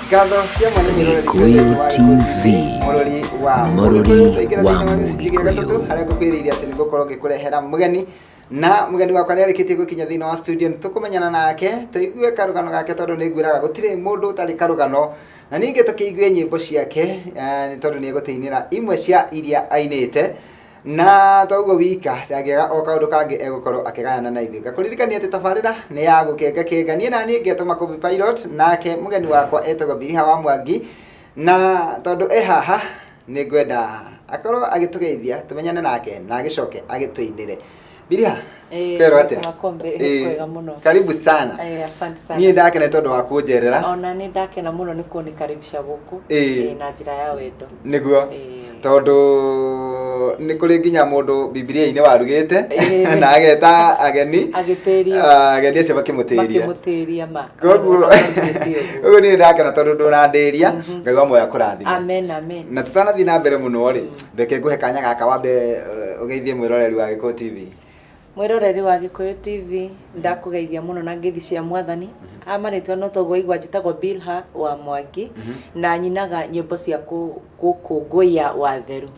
ngatho cia mwanya Gĩkũyũ TV, mũrori wa mũrori wa Mũgĩkũyũ. gatatũ harĩa ngũkwĩrĩire atĩ nĩ ngũkorwo ngĩkũrehera mũgeni na mũgeni wakwa nĩ arĩkĩtie gũkinya thĩinĩ wa studio nĩ tũkũmenyana nake tũigue karũgano gake tondũ nĩ nguĩraga gũtirĩ mũndũ ũtarĩ karũgano na ningĩ tũkĩigue nyĩmbo ciake eh, nĩ tondũ nĩ egũtĩinĩra imwe cia iria ainĩte Na to ũguo wika, ndangĩaga o kaũndũ kangĩ egũkorwo akĩgayana na ithuĩ. Ngakũririkania atĩ tabarĩra nĩ ya gũkenga kenga. Niĩ na niĩ ngetwo Makũbi Pilot, nake mũgeni wakwa etagwo Biliha wa Mwangi. Na tondũ e haha, nĩ ngwenda akorwo agĩtũgeithia, tũmenyane nake, na agĩcoke agĩtũinĩre. Biria, Eh, kwero atia? Mr. Makombe, Eh, kwega mũno. Karibu sana. Eh, asante sana. Niĩ ndakena tondũ wa kũnjerera. ona nä ndakena må no nä kuo nä karibisha gå kå Eh. na njä ra ya wendo Nĩguo. Eh. Tondũ nĩ kũrĩ nginya mũndũ Bibilia-inĩ warugĩte Eh. na ageta ageni. agä tä ria Ah, Ageni acio makä makĩmũtĩria. må tä ria ma Koguo Ona ndũgĩtĩe ũguo. ũguo niĩ ndakena tondũ ndũnandĩria Ngai wa muoya kũrathima. amen amen na tũtanathiĩ na mbere mũno rĩ Reke ngũhe kanya gaka wambe uh, ũgeithie mwĩroreri wa Gĩkũyũ TV. Mwĩroreri wa Gĩkũyũ TV ndakũgeithia mũno na ngeithi cia mwathani mhm. amarĩtwa no toguo igwa njĩtagwo Bilha wa Mwangi mhm. na nyinaga nyĩmbo cia gũkũngũiya watheru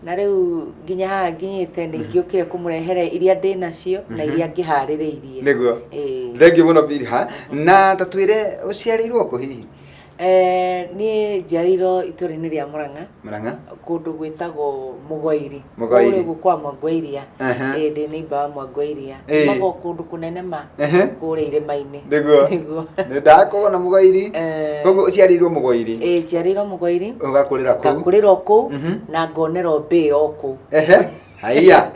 na rĩu nginya haha nginyĩte nĩ mhm. ngĩũkire kũmũrehere iria ndĩ nacio na iria ngĩharĩrĩirie nĩguo thengiũ mũno Bilha na ta twĩre ũciarĩirwo kũ hihi Eh, niä njiarĩirwo itũra-inä rĩa Mũrang'a Murang'a. kũndũ gwĩtagwo Mũgoiri Mũgoiri. Kũrĩa kwa Mwangwairia Aha. Eh, ndĩ nĩimba wa Mwangwairia Eh. magwo kũndũ kũnene ma Ehe. kũrĩa irĩma-inĩ Nĩguo. Nĩguo. Nĩ ndakorwo na mũgoiri. Eh. Koguo ũciarĩirwo mũgoiri. Eh, njiarĩirwo Mũgoiri Ũgakũrĩra kũu. ngakũrĩrwo kũu Mhm. na ngonerwo mbĩ o kũu Ehe. haiya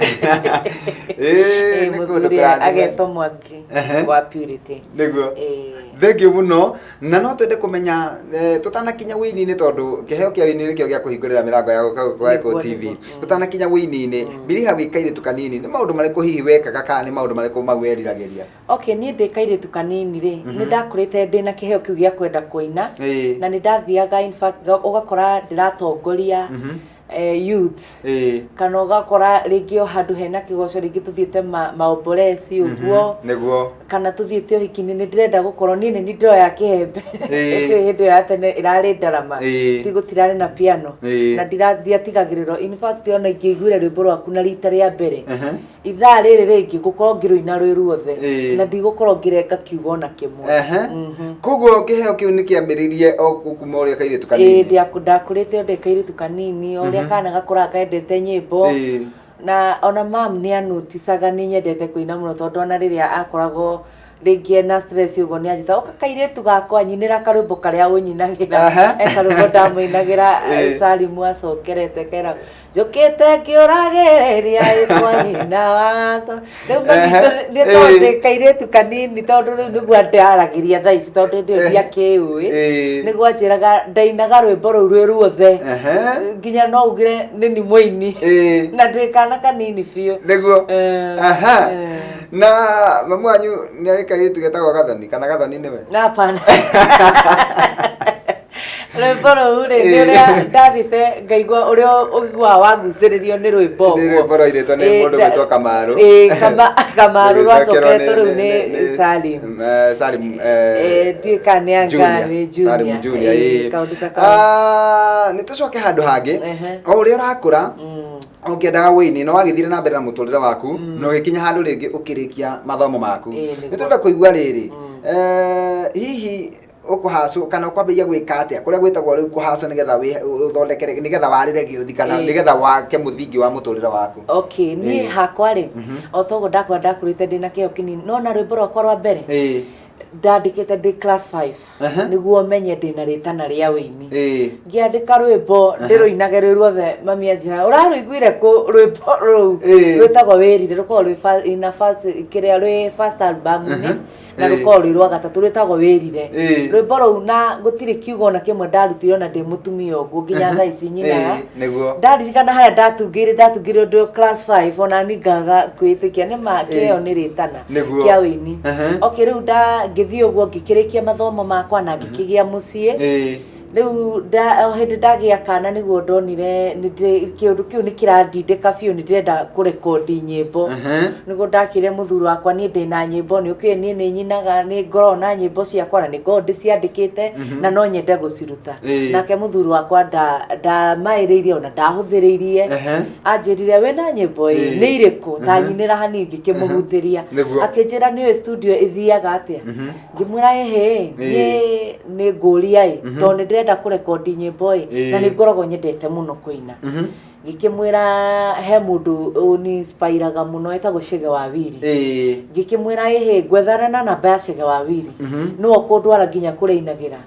Eh, nĩ kũndũ mũthuri kũrathime. agetwo mwangi Ehe. wa purity nĩguo Eh. thengio mũno na no twende kũmenya eh, tũtanakinya wĩini-inĩ tondũ kĩheo kĩa wĩini nĩkĩo gĩa kũhingũrĩra mĩrango ya gũka gũka Nĩguo, Eko TV nĩguo. Mm. tũtanakinya wĩini-inĩ mbiriha wĩ kairĩtu kanini nĩ maũndũ marĩkũ hihi wekaga kana nĩ maũndũ marĩkũ mau weriragĩria okay niä ndä kairä kanini rä Mhm. nä ndakå rä te ndä na kä heo kä u gä a kwenda kå ina Ĩĩ. na nä ndathiaga in fact, nga- ũgakora ndä ratongoria Mhm. eh, youth ĩĩ kana ũgakora rĩngĩ o handũ hena kĩgoco rĩngĩ tũthiĩte ma- maomboreci ũguo nĩguo kana tũthiĩte ũhiki-inĩ nĩ ndĩrenda gũkorwo niĩ nĩ nindoo ya kĩhembe Ĩĩ. ĩndĩ hĩndĩ ĩyo ya tene ĩrarĩ ndarama Ĩĩ. ti gũtirarĩ na piano Ĩĩ. na ndira- ndiatigagĩrĩrwo in fact ona ingĩiguire rwĩmbo rwaku na rita rĩa mbere Ehe. ithaa rĩrĩ rĩngĩ ngũkorwo ngĩrũina rwĩ ruothe Ĩĩ. na ndigũkorwo ngĩrenga kiugo ona kĩmwe Ehe. Mhm. koguo kĩheo kĩu nĩ kĩambĩrĩirie o kuma ũrĩa kairĩtu Ĩĩ, kanini ndĩa- ndakũrĩte ndĩ kairĩtu kanini o ũrĩa kana gakũraga kendete nyĩmbo Ĩĩ. na ona mam nĩ anũticaga nĩ nyendete kũina mũno tondũ ona rĩrĩa akoragwo rĩngĩ ena stress ũguo nĩ anjĩta ũka kairĩtu gakwa nyinĩra karwĩmbo karĩa ũnyinagĩra Aha. e karwĩmbo ndamũinagĩra Eh. salimu acokerete kera njũkĩte ngĩũragĩrĩria ĩtwa nyina watho rĩu manyitũ Aha. nĩ tondũ Eh. kairĩtu kanini tondũ rĩu nĩguo ndaragĩria thaa ici tondũ ndĩ Eh. ndiakĩũĩ Eh. nĩguo anjĩraga ndainaga rwĩmbo rũu rwĩ ruothe Aha. nginya no ugire nĩ ni mũini Eh. na ndĩ kana kanini biũ nĩguo Eh, Aha. eh. na mamu wanyu nä arä kairä tu getagwo gathoni kana gathoni nä we napana rwĩmbo rũu rĩ nĩ ũrĩa ndathite ngaigua ũrĩa ũiguaga wagucĩrĩrio nĩ rwĩmbo nä rwä mbo rwairĩtwo nä Eh, må ndå da- gwä two kamarå eh, Kama- Kamarũ rwacoketwo rĩu nĩ Salim. salim Eh, ndiũĩ kana nĩ anga nĩ junior. Eh, kaũndũ ta kau. nä tå coke handå hangä Ehe. o å rä a å rakå ra Mm. ũkĩendaga wĩini no wagĩthire na mbere na mũtũrĩre waku mm. na ũgĩkinya handũ rĩngĩ ũkĩrĩkia mathomo maku nĩ tũrenda kũigua rĩrĩ mm. eh, hihi ukuhacu kana ukwambia gwika atia kuria gwitagwo riu kuhacu nigetha uthondekere nigetha warire giuthi kana nigetha wake muthingi wa muturire waku okay ni hakwa ri mhm. otogo ndakwa ndakurite ndina kio kinini no na rwimbo rwakwa rwa mbere ndandikite ndi class 5 Aha. nĩguo menye ndĩ na rĩtana rĩa ũini Ĩĩ. ngĩandĩka rwĩmbo ndĩrũinage rwĩ ruothe mami anjĩra ũrarũiguire kũ rwĩmbo rũu Ĩĩ. rwĩtagwo wĩrire rũkoragwo rwĩ fa- ina first- kĩrĩa rwĩ first album-inĩ na Ĩĩ. rũkoragwo rwĩ rwa gatatũ rwĩtagwo wĩrire Ĩĩ. rwĩmbo rũu na gũtirĩ kiugo ona kĩmwe ndarutire ona ndĩ mũtumia ũguo nginya thaa ici nyinaga Ĩĩ, nĩguo. ndaririkana harĩa ndatungĩire ndatungĩire ndĩ o class 5 ona ningaga kwĩtĩkia nĩ ma kĩo nĩ rĩtana Nĩguo. kĩa wĩini Ehe. okay rĩu nda ngĩthiĩ ũguo ngĩkĩrĩkia mathomo makwa na ngĩkĩgĩa mũciĩ Ĩĩ. rĩu nda- o hĩndĩ ndagĩa kana nĩguo ndonire nĩ ndĩ- kĩũndũ kĩu nĩ kĩrandindĩka biũ nĩ ndĩrenda kũrekondi nyĩmbo Ehe. nĩguo ndakĩre mũthuri wakwa niĩ ndĩ na nyĩmbo nĩ ũkĩũĩ niĩ nĩ nyinaga nĩ ngoragwo na nyĩmbo ciakwa na nĩ ngoragwo ndĩciandĩkĩte na no nyende gũciruta Ĩĩ. nake mũthuri wakwa nda- ndamaĩrĩirie ona ndahũthĩrĩirie Ehe. anjĩrire wĩna nyĩmbo ĩ Ĩĩ. nĩ irĩkũ Mhm. tanyinĩra hanini ngĩkĩmũhutĩria Nĩguo. akĩnjĩra nĩũĩ studio ĩthiaga atĩa Mhm. ngĩmwĩra ĩhĩ Ĩĩ. niĩ nĩ ngũria ĩ Mhm. tondũ nĩ ndĩrenda kũrekondi nyĩmbo ĩ Ĩĩ. na nĩ ngoragwo nyendete mũno kũina Mhm. ngĩkĩmwĩra he mũndũ ũninspiraga mũno etagwo cege wa wiri Ĩĩ. ngĩkĩmwĩra ĩhĩ ngwethana na namba ya cege wa wiri Mhm. nĩwe ũkũndwara nginya kũrĩa ainagĩra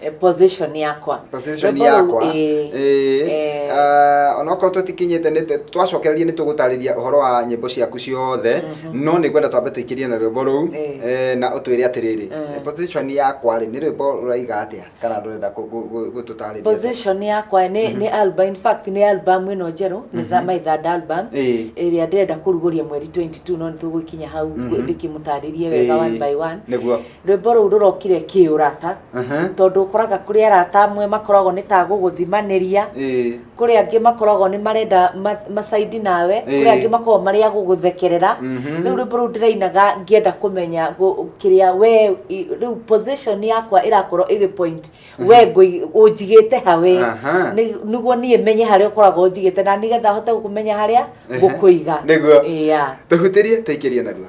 Eh, position yakwa position Rwĩmbo rũu, yakwa ĩĩ. ĩĩ Eh. ah, onokorwo tũtikinyĩte nĩ- twacokereria nĩ tũgũtarĩria ũhoro wa nyĩmbo ciaku ciothe no nĩ ngwenda twambe tũikĩrie na rwĩmbo rũu Eh. eh, na ũtwĩre atĩrĩrĩ Eh. eh, position yakwa rĩ nĩ rwĩmbo rũraiga atĩa kana rũrenda kũ- gũ- gũ- gũtũtarĩria atĩa? position yakwa nĩ nĩ album in fact nĩ album ĩno njerũ nĩ tha- my third album Ĩĩ. ĩrĩa ndĩrenda kũrugũria mweri 22 no nĩ tũgũkinya hau Mhm. ndĩkĩmũtarĩrie wega Ĩĩ. one by one nĩguo rwĩmbo rũu rũrokire kĩũrata Aha. tondũ ũkoraga kũrĩ arata amwe makoragwo nĩ ta gũgũthimanĩria Ĩĩ. kũrĩ angĩ makoragwo nĩ marenda ma- macaidi nawe kũrĩ Ĩĩ. angĩ makoragwo marĩ a gũgũthekerera Mhm. rĩu rwĩmbo rũu ndĩrainaga ngĩenda kũmenya gũ- kĩrĩa we i- rĩu position yakwa ĩrakorwo ĩgĩ point we ngũi- ũnjigĩte hawe Aha. Nĩ- nĩguo niĩ menye harĩa ũkoragwo ũnjigĩte na nĩgetha hote gũkũmenya harĩa Ehe. ngũkũiga Nĩguo. Ĩya. Tũhutĩrie tũikĩrie narua.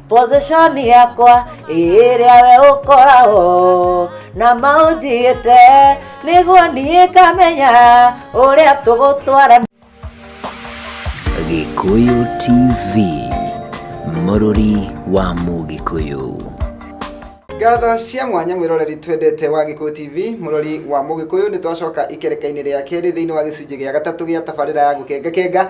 position yakwa ĩrĩa we ũkoragwo na maũnjigĩte nĩguo niĩ kamenya ũrĩa tũgũtwarana Gĩkũyũ TV mũrũri wa Mũgĩkũyũ. ngatho cia mwanya mwĩroreri twendete wa gĩkũyũ tv mũrori wa mũgĩkũyũ nĩ twacoka ikereka-inĩ rĩa kerĩ thĩinĩ wa gĩcunjĩ gĩa gatatũ gĩa tabarĩra ya gũkengakenga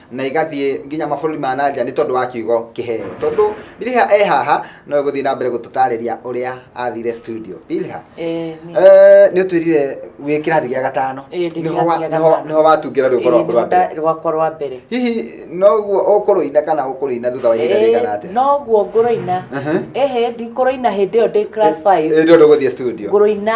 na igathiĩ nginya mabũrũri ma na nja nĩ tondũ wa kiugo kĩheo tondũ Bilha e haha no egũthiĩ na mbere gũtũtarĩria ũrĩa athire studio Bilha Eh, nĩ- eh, nĩ ũtwĩrire wĩ kĩrathi gĩa gatano Eh, ndĩ Nĩho wa- kĩrathi gĩa nĩho- gatano. nĩho watungĩra rwĩmbo Eh, rwaku rwa nĩho mbere nda- rwakwa rwa mbere hihi noguo ũkũrũina kana ũkũrũina thutha wa ihinda Eh, rĩigana atĩa noguo ngũrũina Mhm. ehe ndikũrũina hĩndĩ ĩyo ndĩ class 5 ĩndĩ ũndũ gũthiĩ studio ngũrũina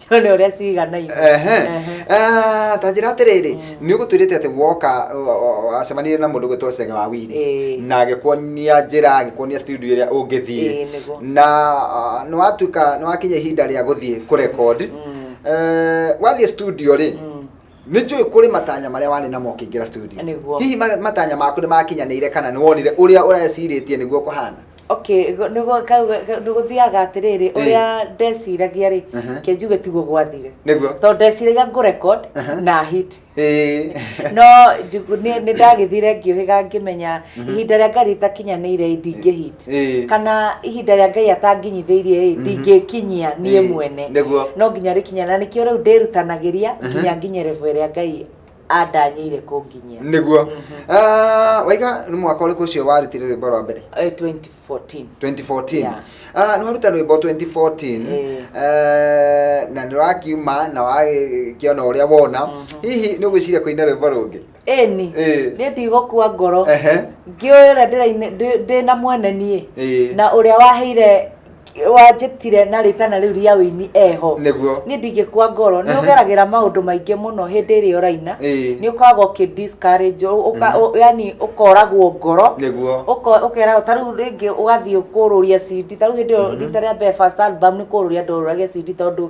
Nĩ ũrĩa ciganaine. Ehe. Ehe. Ah, ta njĩra atĩrĩrĩ nĩ ũgũtwĩrĩte atĩ woka o- o- o- acemanirie na mũndũ gwĩtwo cege wa wiri Ĩĩ. na agĩkuonia njĩra agĩkuonia studio ĩrĩa Ĩĩ, ũngĩthiĩ nĩguo. na ah, nĩ watuĩka nĩ wakinya ihinda rĩa gũthiĩ kũrekodi Mm. wathiĩ studio rĩ Mm. nĩ njũĩ kũrĩ matanya marĩa warĩ namo ũkĩingĩra studio Nĩguo. hihi ma- matanya maku nĩ makinyanĩire kana nĩ wonire ũrĩa ũrecirĩtie nĩguo kũhana okay go- nĩ gũ- kau- ga- nĩ gũthiaga atĩrĩrĩ ũrĩa ndeciragia rĩ Mhm. kĩnjuge tiguo gwathire nĩguo tondũ ndeciragia ngũ record Mhm. na hit Ĩĩ. no njugu- nĩ nĩ ndagĩthire ngĩũhĩga ngĩmenya ihinda rĩa ngari itakinyanĩire ndingĩ hit Ĩĩ. kana ihinda rĩa ngai atanginyithĩirie ĩ ndingĩkinyia niĩ Ĩĩ, mwene nĩguo. no nginya rĩkinya na nĩkĩo rĩu ndĩrutanagĩria nginya nginye revo ĩrĩa ngai andanyĩire kũnginyia nĩguo Ah, waiga nĩ mwaka ũrĩkũ ũcio warutire rwĩmbo rwa mbere Eh, 2014 2014 Yeah. Ah, nĩ waruta rwĩmbo 2014 Eh. Eh, na nĩ wakiuma na wagĩkĩona ũrĩa wona hihi nĩ ũgwĩciria kũina rwĩmbo rũngĩ ĩni Ĩĩ. niĩ ndigũkua ngoro Ehe. ngĩũĩ ũrĩa ndĩraine- ndĩ- ndĩ na mwene niĩ Ĩĩ. na ũrĩa waheire wanjĩtire na rĩtana rĩu rĩa ũini eho Nĩguo. niĩ ndingĩkua ngoro nĩ Ehe. ũgeragĩra maũndũ maingĩ mũno hĩndĩ ĩrĩa ũraina Ĩĩ. nĩ ũkoragwo ũkĩ discourage, ũ- ũka- ũ- yani ũkoragwo ngoro Nĩguo. Ũko- ũkeragwo ta rĩu rĩngĩ ũgathiĩ kũrũria cindi ta rĩu hĩndĩ ĩyo rita rĩa mbere first album nĩ kũrũria ndorũragia cindi tondũ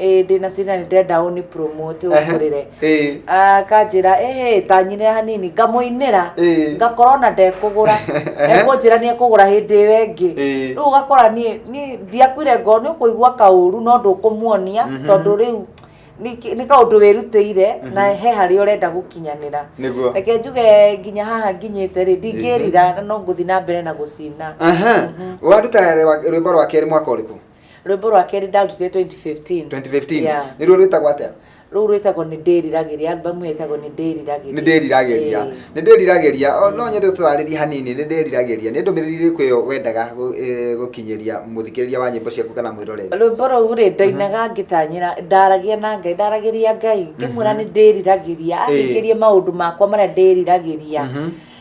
ĩĩ ndĩ na cira nĩ ndĩrenda ũni promote ũngũrĩre Ĩĩ. akanjĩra ĩhĩ tanyinĩra hanini ngamũinĩra Ĩĩ. ngakorwo na ndekũgũra Ehe. ekũnjĩra nĩ ekũgũra hĩndĩ ĩyo ĩngĩ Ĩĩ. rĩu ũgakora niĩ niĩ ndiakuire ngoro nĩ ũkũigua kaũru no ndũkũmuonia tondũ rĩu nĩ kĩ- nĩ kaũndũ wĩrutĩire na he harĩa ũrenda gũkinyanĩra Nĩguo. reke njuge nginya haha nginyĩte rĩ ndingĩrira no ngũthi na mbere na gũcina Aha. Waruta rwa- rwĩmbo rwa kerĩ mwaka ũrĩkũ? rwĩmbo rwa kerĩ ndarutire 2015 2015 Yeah. nä ruo rwä tagwo atä rũu rwĩtagwo nä ndĩriragĩria albamu ĩyo ĩtagwo nĩ ndĩriragĩria nä ndä riragä ria Ĩĩ. nä ndä riragä ria O, no nyende twarä rie hanini nä ndä riragä ria nä ndå mä rä ri rä kå ä yo wendaga gå kinyä ria må thikä rä ria wa nyä mbo ciaku kana mwä roreri rwĩmbo rũu rĩ ndainaga ngĩtanyĩra ndaragia na ngai ndaragĩria ngai ngĩmwĩra nĩ ndĩriragĩria Ĩĩ. athikĩrie maũndũ makwa marĩa ndĩriragĩria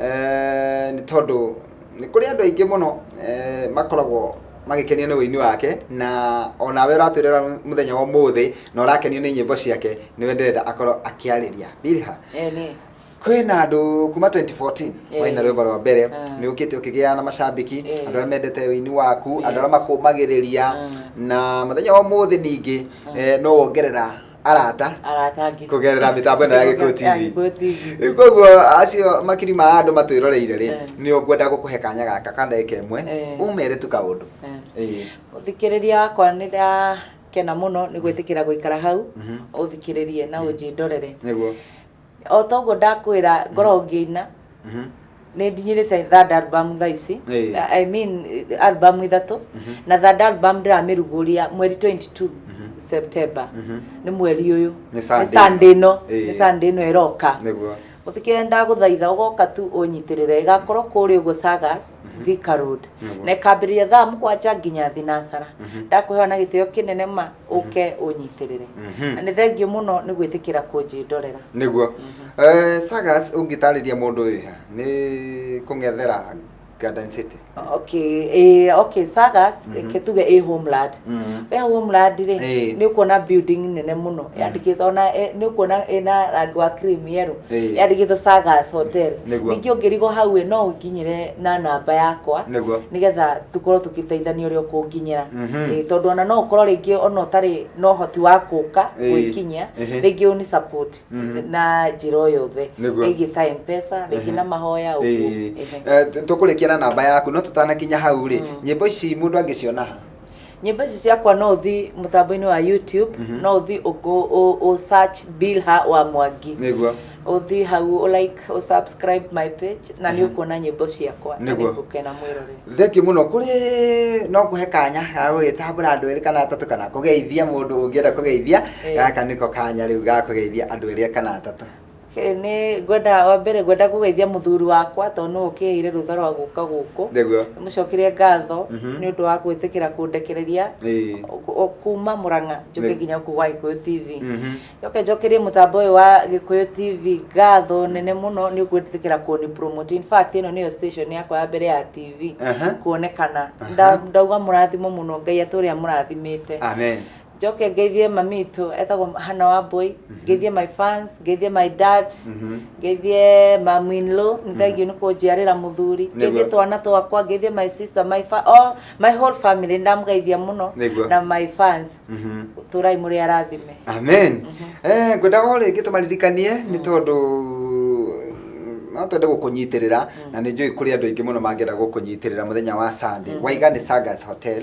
Eh, nĩ tondũ nĩ kũrĩ andũ aingĩ mũno eh, makoragwo magĩkenio nĩ ũini wake na onawe ũratwĩrĩra mũthenya wa ũmũthĩ na ũrakenio nĩ nyĩmbo ciake nĩwe ndĩrenda akorwo akĩarĩria bilha Eh, nĩ. kwĩ na andũ kuma 2014 Eh. waina rwĩmbo rwa mbere Ah. nĩ ũkĩte ũkĩgĩa na macambiki Eh. andũ arĩa mendete ũini waku andũ arĩa Yes. makũmagĩrĩria Mm. na mũthenya wa ũmũthĩ ningĩ eh, no wongerera arata arata ngiri kugerera mitambo ino ya Gikuyu TV. Ya Gikuyu TV. rĩu koguo acio makiri ma andũ matwĩroreire rĩ Eh. nĩ ũkwenda gũkũhe kanya gaka ka ndagĩka ĩmwe Eh. ũmere tu kaũndũ Eh. Ĩĩ. ũthikĩrĩria wakwa nĩ ndakena mũno nĩ gwĩtĩkĩra gũikara hau ũthikĩrĩrie na ũnjindorere nĩguo o toguo ndakwĩra ngoragwo ngĩina nĩ ndinyĩrĩte third album thaa ici Ĩĩ. Na- i mean eh, album ithatũ na third album ndĩramĩrugũria mweri 22 september nĩ mweri ũyũ Nĩ Sunday. Sunday ĩno Ĩĩ. nĩ Sunday ĩno ĩroka nĩguo mũthikĩrĩria ndagũthaitha ũgoka tu ũnyitĩrĩre ĩgakorwo kũrĩa ũguo sagas thika road Nĩguo. na ĩkambĩrĩria thaa mũgwanja nginya thinasara ndakũhewa na gĩtĩo kĩnene ma ũke ũnyitĩrĩre na nĩ thengiũ mũno nĩ gwĩtĩkĩra kũnjĩndorera nĩguo Eh, sagas ũngĩtarĩria mũndũ wĩ ha nĩ kũng'ethera garden city okay eh, okay sagas reke tuge ĩ homeland Mhm. we homeland rĩ Eh. nĩ ũkuona building nene mũno yandĩkĩtwo ona eh, nĩ ũkuona ĩna rangi wa cream yellow Eh. yandĩkĩtwo sagas hotel Nĩguo. ningĩ ũngĩrigwo hau ĩ no ũkinyĩre na namba yakwa Nĩguo. nigetha tukorwo tugiteithania uria ukunginyira Mhm. Eh, tondu ona no ukorwo ringi ona utari no hoti wa kuka Eh, gwikinyia ehe. ringi uni support Mhm. na njira o yothe Nĩguo. ringi ta mpesa ringi na mahoya uguo Ehe. tå kå rä kia na namba yaku no tå tanakinya hau rä nyä mbo ici må ndå angä ciona ha nyimbo ici ciakwa no uthi mutambo-ini wa youtube no uthi uku- u- u search bilha wa mwangi niguo uthi hau u like u subscribe my page na ni ukuona nyimbo ciakwa na Nĩguo. nigukena mwirore thengio muno kuri no kuhe kanya ga gugitambura andu eri kana atatu kana kugeithia mundu ungienda kugeithia Eh. gaka niko kanya riu ga kugeithia andu eri kana atatu Ke- nĩ ngwenda wa mbere ngwenda kũgeithia mũthuri wakwa tondũ nĩwe ũkĩheire rũtha rwa gũka gũkũ Nĩguo. mũcokerie ngatho Mhm. nĩ ũndũ wa gwĩtĩkĩra kũndekereria Ĩĩ. kũ- o- kuma mũrang'a njoke Nĩ- nginya gũkũ gwa gĩkũyũ tv Mhm. njoke njokerie mũtambo ũyũ wa gĩkũyũ tv ngatho nene mũno nĩ gwĩtĩkĩra kũni promote in fact ĩno nĩyo station yakwa ya mbere ya tv Aha. kuonekana Aha. Nda- ndauga mũrathimo mũno ngai atũre amũrathimĩte Amen. njoke ngeithie mami itũ etagwo hana wa mbũi ngeithie my fans ngeithie my dad ngeithie maminlo nĩ thengiũ nĩ kũnjiarĩra mũthuri ngeithie twana twakwa ngeithie my sister my fa all my whole family ndamũgeithia mũno Nĩguo. na my fans tũrai mũrĩ arathime amen eh ngwendaga o rĩngĩ tũmaririkanie nĩ tondũ no twende gũkũnyitĩrĩra na nĩ njũĩ kũrĩ andũ aingĩ mũno mangĩenda gũkũnyitĩrĩra mũthenya wa sunday waiga nĩ sagas hotel